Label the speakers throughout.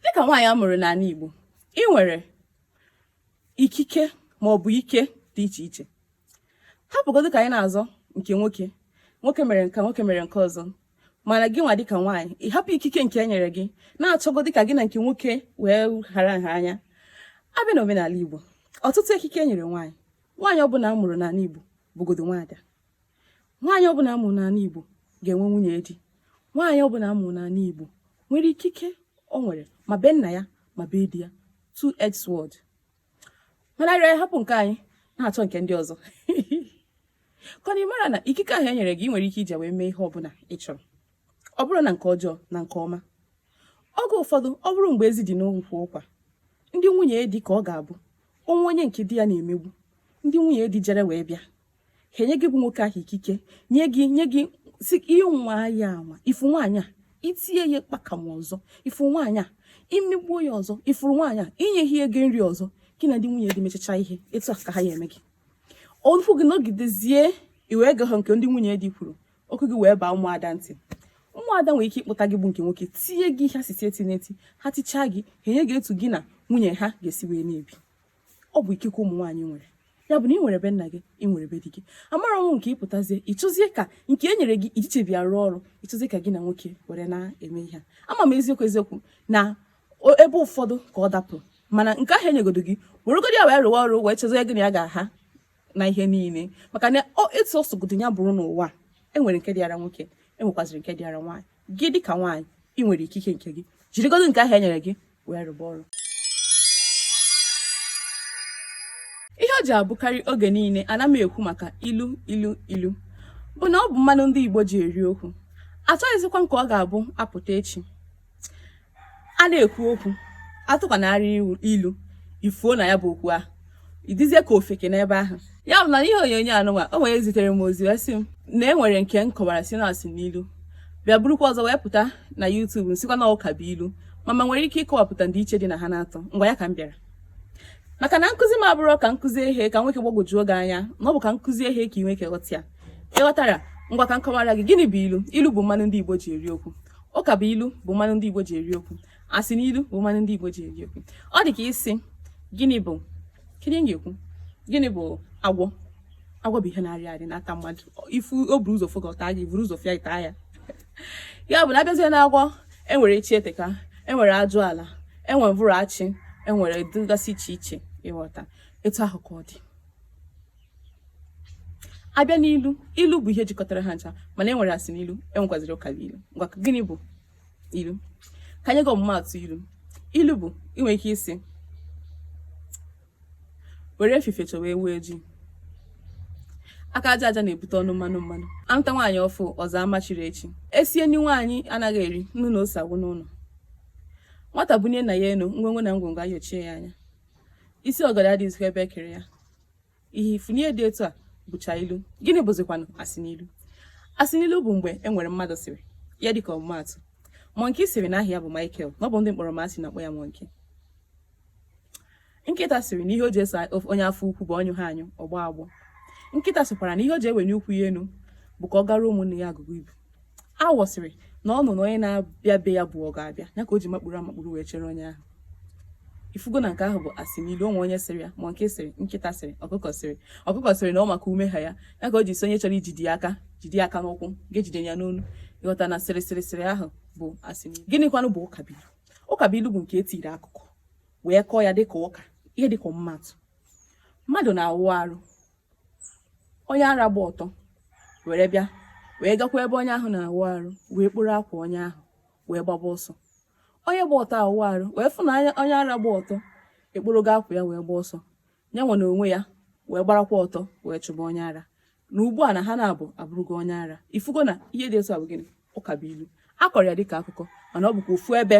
Speaker 1: dịka nwaanyị a mụrụ n'ala Igbo ị nwere ikike ma ọ bụ ike dị iche iche hapụgodo ka anyị na-azọ nke nwoke nwoke mere nke nwoke mere nke ọzọ mana gị nwa dịka nwaanyị ị hapụ ikike nke e nyere gị na-achọgodo ka gị na nke nwoke wee hara nha anya a bịa na omenala Igbo ọtụtụ ikike e nyere nwaanyị nwaanyị ọbụla a mụrụ n'ala Igbo bụgodo nwaada nwaanyị ọbụla a mụrụ n'ala Igbo ga-enwe nwunye di nwaanyị ọbụla a mụrụ n'ala Igbo nwere ikike o nwere ma be nna ya ma be di ya two edged sword mana anyị ahapụ nke anyị na-achọ nke ndị ọzọ kama mara na ikike ahụ e nyere gị ị nwere ike iji ya wee mee ihe ọbụla ị chọrọ ọ bụrụ na nke ọjọọ na nke ọma oge ụfọdụ ọ bụrụ mgbe ezi dị n'ukwu ụkwa ndị nwunye di ka ọ ga-abụ o nwee onye nke di ya na-emegbu ndị nwunye di jere wee bịa ha enye gị bụ nwoke ahụ ikike nye gị nye gị sị ị nwaa ya anwa ị fụ nwaanyị a i tie ya aka ọzọ ị fụ nwaanyị a i megbuo ya ọzọ ị fụrụ nwaanyị a i nye ha ego nri ọzọ gị na ndị nwunye gị mechacha ihe etu a ka ha ya eme gị ọnụkwụ gị nọgidezie iwe ego ha nke ndị nwunye di kwuru okwu gị wee baa ụmụada ntị ụmụada nwere ike ịkpụta gị bụ nke nwoke tinye gị ha site eti n'eti ha tichaa gị ha enye gị etu gị na nwunye ahụ ga-esi wee na-ebi ọ bụ ikike ụmụ nwaanyị nwere ya bụ na ị nwere be nna gị ị nwere be di gị amara ọnwụ nke ị pụtazie ị chọzie ka nke e nyere gị i jichabeghị arụ ọrụ ị chọzie ka gị na nwoke were na-eme ihe ama m eziokwu eziokwu na ebe ụfọdụ ka ọ dapụ mana nke ahụ e nyegodo gị weregodo ya wee rụwa ọrụ wee chezie gị na ya ga-aha na ihe niile maka na etu ọ sọgodo ya bụrụ n'ụwa e nwere nke dịara nwoke e nwekwaziri nke dịara nwaanyị gị dịka nwaanyị ị nwere ikike nke gị jirigodo nke ahụ e nyere gị wee rụba ọrụ ihe o ji abụkarị oge niile ana m ekwu maka ilu ilu ilu bụ na ọ bụ mmanụ ndị Igbo ji eri okwu achọghịzikwa m ka ọ ga-abụ a pụta echi a na-ekwu okwu a tụkwanarị ilu i fuo na ya bụ okwu ahụ ị dịzie ka ofeke n'ebe ahụ ya bụ na ihe onyonyo a nụnwa o nwere zitere m ozi wee sị m na e nwere nke m kọwara sị na asịnilu bịa burukwa ọzọ wee pụta na YouTube m sịkwa na ụkabụilu ma m nwere ike ịkọwapụta ndịiche dị na ha n'atọ ngwa ya ka m bịara maka na nkụzi m abụrọ ka m kuzie ihe ka o nwee ike gbagwojuo gị anya na ọ bụ ka m kuzie ihe ka ị nwee ike ghọta ya ị ghọtara ngwa ka m kọwara gị gịnị bụ ilu ilu bụ mmanụ ndị Igbo ji eri okwu ụkabụilu bụ mmanụ ndị Igbo ji eri okwu asịnilu bụ mmanụ ndị Igbo ji eri okwu ọ dị ka ị sị gịnị bụ kedu ga-ekwu gịnị bụ agwọ agwọ bụ ihe na-arị arị na-ata mmadụ ị fụ o buru ụzọ fụ gị ọ taa gị i buru ụzọ fụ ya i tie ya ya bụ na a bịazie na agwọ e nwere echi eteka e nwere ajụala e nwere mvụrụ achị e nwere dịgasị iche iche ị ghọta etu ahụ ka ọ dị a bịa n'ilu ilu bụ ihe jikọtara ha ncha mana e nwere asị n'ilu e nwekwaziri ụka bụ ilu ngwa gịnị bụ ilu ka anyị ga ọmụmaatụ ilu ilu bụ i nwere ike ịsị were efifie chọwa ewu ojii aka aja aja na-ebute ọnụ mmanụ mmanụ a mụta nwaanyị ọ fụ ụzọ ama chiri echi e sie nri nwaanyị anaghị eri nnu na ose agwụ n'ụlọ nwata bunie nna ya enu ngwongwo na ngwongwo ayochie ya anya isi ọgọdọ adịghịzikwa ebe e kere ya ihe ị fụ na ihe dị etu a bụcha ilu gịnị bụzikwanụ asị n'ilu asị n'ilu bụ mgbe e nwere mmadụ sịrị ya dịka ọmụmaatụ mọnki sịrị na aha ya bụ Michael na ọ bụ ndị kpọrọ m asị na-akpọ ya mọnki nkịta sịrị na ihe o ji eso onye afọ ukwu bụ ọ nyụghị anyụ ọ gbọọ agbọ nkịta sịkwara na ihe o ji ewenie ụkwụ ya enu bụ ka ọ gara ụmụnne ya agụgụ ibu awọ sịrị na ọ nọ na onye na-abịa be ya bụ ọ ga-abịa ya ka o ji makpuru amakpuru wee chere onye ahụ ị fụgo na nke ahụ bụ asị n'ilu o nwere onye sịrị ya mọnki sịrị nkịta sịrị ọkụkọ sịrị ọkụkọ sịrị na ọ maka ume ha ya ya ka o ji sị onye chọrọ ijide ya aka jide ya aka n'ụkwụ ghara ijide ya n'onu ị ghọta na sịrị sịrị sịrị ahụ bụ asị n'ilu gịnịkwanụ bụ ụkabilu ụkabilu bụ nke e jiri akụkọ wee kọọ ya dịka ụka ihe dịka mmadụ mmadụ na-awụ arụ onye ara gba ọtọ were bịa wee gakwa ebe onye ahụ na-awụ arụ wee kporo akwa onye ahụ wee gbaba ọsọ onye gba ọtọ awụ arụ wee fụ na onye ara gba ọtọ ekporogo akwa ya wee gba ọsọ ya nwa na onwe ya wee gbarakwa ọtọ wee chụba onye ara na ugbu a na ha naabọ abụrụgo onye ara ị fụgo na ihe dị otu a bụ gịnị ụka bụ ilu a kọrọ ya dịka akụkọ mana ọ bụkwa ofu ebe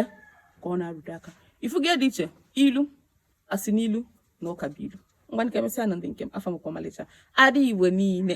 Speaker 1: ka ọ na-arụdo aka ị fụgo ndịiche ilu asị n'ilu na ụka bụ ilu ngwanụ ka emesịa nụ ndị nke m afa m bụkwa ọmalịcha ada igbo niine